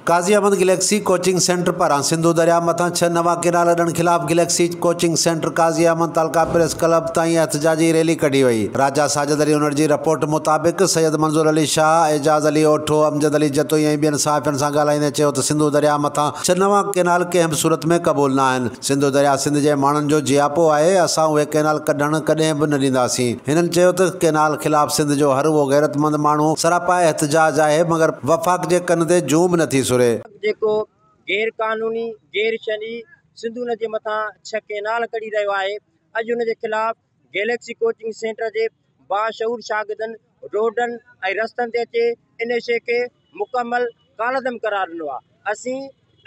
قاضي Ahmed Galaxy coaching centre پاران سنڌو درياهه مٿان ڇهه نوان ڪئنال اڏڻ خلاف Galaxy coaching Centre Qazi Ahmed تعلقه پريس ڪلب تائين احتجاجي ريلي ڪڍي وئي راجا ساجد علي انڙ جي رپورٽ مطابق سيد منظور علي شاهه اعجاز علي اوٺو امجد علي جتوئي ۽ ٻين صحافين سان ڳالهائيندي چيو ته سنڌو درياهه مٿان ڇهه نوان ڪئنال ڪنهن به صورت ۾ قبول ناهن سنڌو درياهه سنڌ جي ماڻهن جو جياپو آهي، اسان اهي ڪئنال ڪڍڻ ڪڏهن به نه ڏينداسين. هنن چيو ته ڪئنال خلاف سنڌ جو هر اهو غيرتمند ماڻهو سراپا احتجاج آهي مگر وفاق جي ڪن تي جون به نٿي سري. جيڪو غير قانوني، غير شرعي سنڌو ندي مٿان ڇهه ڪئنال ڪڍي رهيو آهي، اڄ ان جي خلاف گيليڪسي ڪوچنگ سينٽر جي باشعور شاگردن روڊن ۽ رستن تي اچي ان شيء کي مڪمل ڪالعدم قرار ڏنو آهي. اسين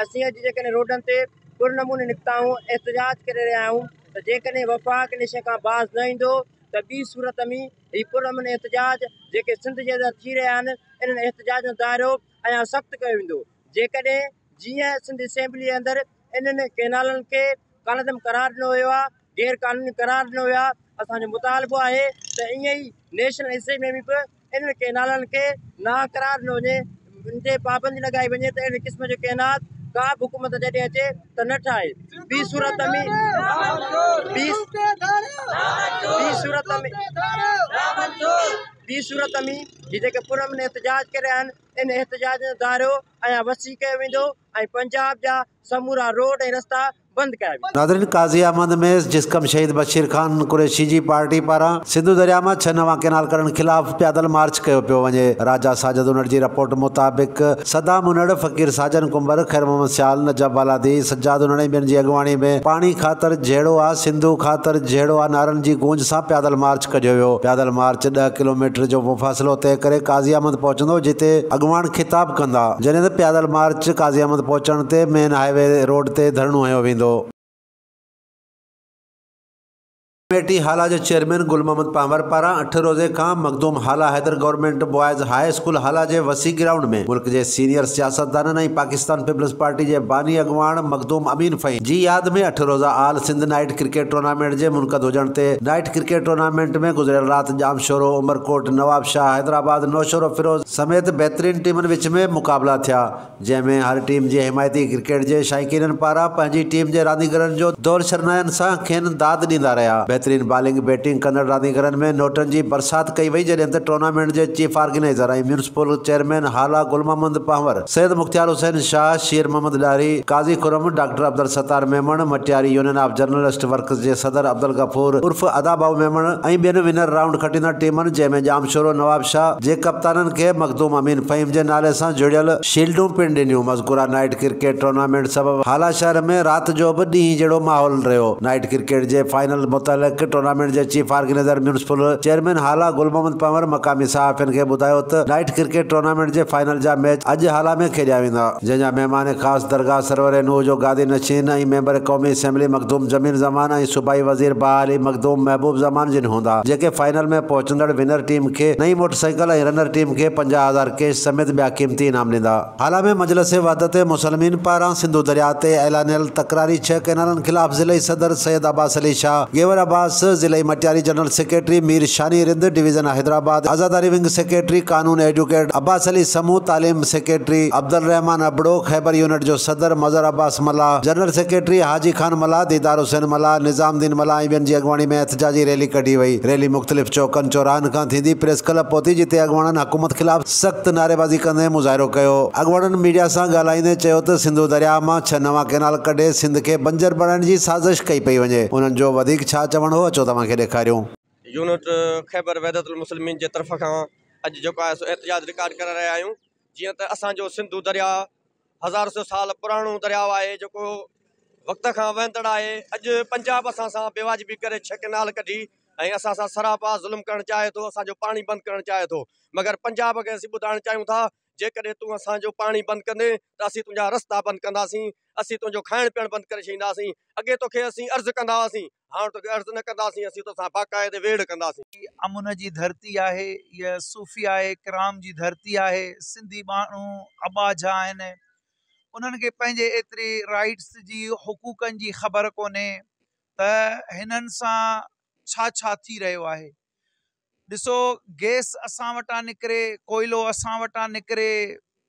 اسين اڄ جيڪڏهن روڊن تي پر نموني نڪتا آهيون، احتجاج ڪري رهيا آهيون ته جيڪڏهن وفاق ان شيء کان باز نه ايندو ته ٻي صورت ۾ هي پرامن احتجاج جيڪي سنڌ جي اندر ٿي رهيا آهن، انهن احتجاجن جو دائرو اڃا سخت ڪيو ويندو. جيڪڏهن جيئن سنڌ اسيمبليء اندر انهن ڪئنالن کي ڪالعدم قرار ڏنو ويو آهي، غير قانوني قرار ڏنو ويو آهي، اسان جو مطالبو آهي ته ائين ئي نيشنل اسيمبليء ۾ به انهن ڪئنالن کي ناحق قرار ڏنو وڃي، ان تي پابندي لڳائي وڃي ته اهڙي قسم جو ڪئنال ڪا به حڪومت جڏهن اچي ته نه ٺاهي. ٻي صورت ۾، ٻي صورت ۾، ٻي صورت ۾ هي جيڪي پرامن احتجاج ڪري رهيا آهن، ان احتجاج جو ڌارو اڃا وسيع ڪيو ويندو ۽ پنجاب جا سمورا روڊ ۽ رستا بند ڪيا ويندا. ناظرين قاضي احمد ميس جسقم شهيد بشير خان قريشي جي پارٽي پاران سنڌو درياء مان ڇهه نوان ڪينال ڪڍڻ خلاف پيادل مارچ ڪيو پيو وڃي راجا ساجد انڙ جي رپورٽ مطابق صدام انڙ فقير ساجن ڪنڀر خير محمد سيال نجف بالادي سجاد انڙ ۽ ٻين جي اڳواڻي ۾ پاڻي خاطر جهيڙو آ سنڌو خاطر جهيڙو آ نعرن جي گونج سان پيادل مارچ ڪڍيو ويو. پيادل مارچ ڏهه ڪلوميٽر جو مفاصلو طئي ڪري قاضي احمد پهچندو جتي اڳواڻ خطاب ڪندا جڏهن ته پيادل مارچ قاضي احمد پهچڻ تي مين هاء وي روڊ تي ڌرڻو هنيو ويندو. ڪميٽي هالا جي چيئرمين گل محمد پنهور پاران اٺ روزي کان Makhdoom Hala Haider government boys high school Hala جي وسيع گرائونڊ ۾ ملڪ جي سينيئر سياستدانن ۽ پاڪستان پيپلز پارٽي جي باني اڳواڻ مخدوم امين فهيم جي ياد ۾ اٺ روزه all Sindh night cricket tournament جي منعقد هجڻ تي نائيٽ ڪرڪيٽ ٽورنامينٽ ۾ گذريل رات ڄامشورو، عمرڪوٽ، نوابشاهه، حيدرآباد، نوشهرو فيروز سميت بهترين ٽيمن وچ ۾ مقابلا ٿيا، جنهن ۾ هر ٽيم جي حمايتي ڪرڪيٽ جي شائقينن پاران پنهنجي ٽيم جي رانديگرن جو دور شرنائن سان کين داد ڏيندا رهيا، بهترين بالنگ بيٽنگ ڪندڙ رانديگرن ۾ نوٽن جي برسات ڪئي وئي جڏهن ته ٽورنامينٽ جي chief organiser ۽ municipal chairman Hala Gul Muhammad Panhwar. Syed Mukhtiar Hussain Shah, Sher Muhammad Dahri, Qazi Khurram, doctor Abdul Sattar Memon, Matiari union of journalist workers جي صدر عبدالغفور عرف ادا ڀائو ميمڻ ۽ ٻين ونر رائونڊ کٽيندڙ ٽيمن جنهن ۾ ڄامشورو نوابشاهه جي ڪپتانن کي مخدوم امين فهيم جي نالي سان جڙيل شيلڊون پڻ ڏنيون مذڪوره نائيٽ ڪرڪيٽ ٽورنامينٽ سبب هالا شهر ۾ رات جو به ڏينهن جهڙو ماحول رهيو نائيٽ ڪرڪيٽ جي فائنل متعلق ٽورنامينٽ جي chief organiser municipal chairman Hala Gul Muhammad Panhwar مقامي صحافين کي ٻڌايو ته نائيٽ ڪرڪيٽ ٽورنامينٽ جي فائنل جا ميچ اڄ هالا ۾ کيڏيا ويندا، جنهن جا مهمان خاص درگاهه سرور نوح جو گادي نشين ۽ ميمبر قومي اسيمبلي مخدوم جميل زمان ۽ صوبائي وزير بحالي مخدوم محبوب زمان جن هوندا، جيڪي فائنل ۾ پهچندڙ ونر ٽيم کي نئين موٽر سائيڪل ۽ رنر ٽيم کي پنجاهه هزار ڪيش سميت ٻيا قيمتي انعام ڏيندا. هالا ۾ مجلس وحدت مسلمين پاران سنڌو درياهه تي اعلانيل تڪراري ڇهه ڪئنالن خلاف ضلعي صدر سيد عباس علي شاهه، گيور عباس، ضلعي Matiari general secretary Mir Shani Rind, division Hyderabad, عزاداري ونگ سيڪريٽري قانون ايڊوڪيٽ عباس علي سمون، تعليم سيڪريٽري عبدالرحمان ابڙو، خيبر يونٽ جو صدر مظهر عباس ملاح، جنرل سيڪريٽري حاجي خان ملاح، ديدار حسين ملاح، نظام الدين ملاح ۽ ٻين جي اڳواڻي ۾ احتجاجي ريلي ڪڍي وئي. ريلي مختلف چوڪن چوراهن کان ٿيندي پريس ڪلب پهتي جتي اڳواڻن حڪومت خلاف سخت نعريبازي ڪندي مظاهرو ڪيو. اڳواڻن ميڊيا سان ڳالهائيندي چيو ته سنڌو درياهه مان ڇهه نوان ڪئنال ڪڍي سنڌ کي بنجر بڻائڻ جي سازش ڪئي پئي وڃي. انهن جو وڌيڪ ڇا چوڻ هو اچو توهان کي ڏيکاريون. يونٽ خيبر وحدت المسلمين جي طرف کان اڄ جيڪو آهي سو احتجاج رڪارڊ ڪري رهيا آهيون جيئن ته اسان جو سنڌو دريا هزار سو سال پراڻو دريا آهي جيڪو وقت کان وهندڙ آهي اڄ پنجاب اسان سان بي واجبي ڪري ڇهه ڪينال ڪڍي ۽ اسان سان سراپا ظلم ڪرڻ چاهي ٿو اسان جو پاڻي بند ڪرڻ چاهي ٿو مگر پنجاب کي اسين ٻڌائڻ چاهيون ٿا جيڪڏهن تون اسان جو پاڻي بند ڪندين ته اسين تنهنجا رستا بند ڪنداسين، اسين تنهنجو کائڻ پيئڻ بند ڪري ڇڏينداسين، اڳي تو کي اسين عرض ڪندا هئاسين، هاڻ تو کي عرض نه ڪنداسين، اسين تو سان باقاعدي ويڙهه ڪنداسين. هي امن جي ڌرتي آهي، هيء صوفياء ڪرام جي ڌرتي آهي، سنڌي ماڻهو اٻاجها آهن، انهن کي پنهنجي ايتري رائيٽس جي، حقوقن جي خبر ڪونهي ته هنن سان ڇا ڇا ٿي رهيو آهي، ڏسو گيس اسان وٽان نڪري ڪوئلو اسان وٽان نڪري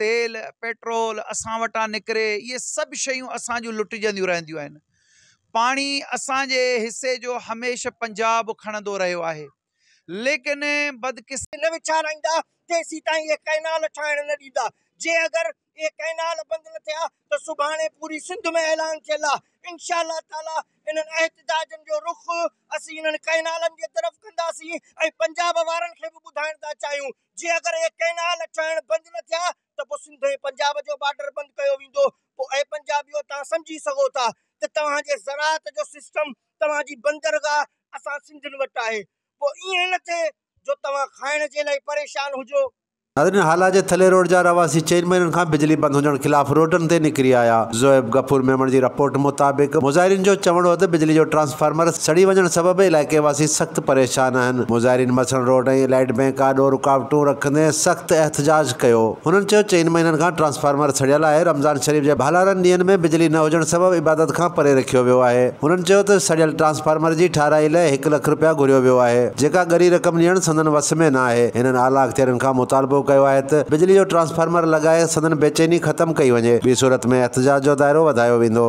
تيل پيٽرول اسان وٽان نڪري اهي سڀ شيون اسان جون لٽجنديون رهنديون آهن پاڻي اسان جي حصي جو هميشه پنجاب کڻندو رهيو آهي ليڪن بدقسمتي نه ويچارائيندا تيسيتائين اهي ڪئنال ٺاهڻ نه ڏيندا جي اگر اهي ڪئنال بند نه ٿيا ته سڀاڻي پوري سنڌ ۾ اعلان ٿيل آ انشاء الله تعالي انهن احتجاجن جو رخ اسين انهن ڪئنالن جي طرف ڪنداسين ۽ پنجاب وارن کي به ٻڌائڻ ٿا چاهيون جي اگر اهي ڪئنال ٺهڻ بند نه ٿيا ته پو سنڌ ۽ پنجاب جو بارڊر بند ڪيو ويندو پو اي پنجابيو توهان سمجهي سگهو ٿا ته توهان جي زراعت جو سسٽم توهان جي بندرگاهه اسان سنڌين وٽ آهي پو ائين نه ٿئي جو توهان کائڻ جي لاء پريشان هجو. ناظرين هالا جي ٿلهي روڊ جا رهواسي چئن مهينن کان بجلي بند هجڻ خلاف روڊن تي نڪري آيا، زويب غفور ميمڻ جي رپورٽ مطابق مظاهرين جو چوڻ هو ته بجلي جو ٽرانسفارمر سڙي وڃڻ سبب علائقي واسي سخت پريشان آهن، مظاهرين مٿن روڊ ۽ لائيٽ بئنڪ آڏو رڪاوٽون رکندي سخت احتجاج ڪيو، هنن چيو چئن مهينن کان ٽرانسفارمر سڙيل آهي، رمضان شريف جي ڀالارن ڏينهن ۾ بجلي نه هجڻ سبب عبادت کان پري رکيو ويو آهي، هنن چيو ته سڙيل ٽرانسفارمر جي ٺاهرائي لئه هڪ لک رپيا گهريو ويو آهي، جيڪا ڳري رقم ڏيڻ سندن وس ۾ ناهي. آهي، هنن اعليٰ اختيارين کان مطالبو ڪيو آهي ته بجلي جو ٽرانسفارمر لڳائي سندن بيچيني ختم ڪئي وڃي، ٻي صورت ۾ احتجاج جو دائرو وڌايو ويندو.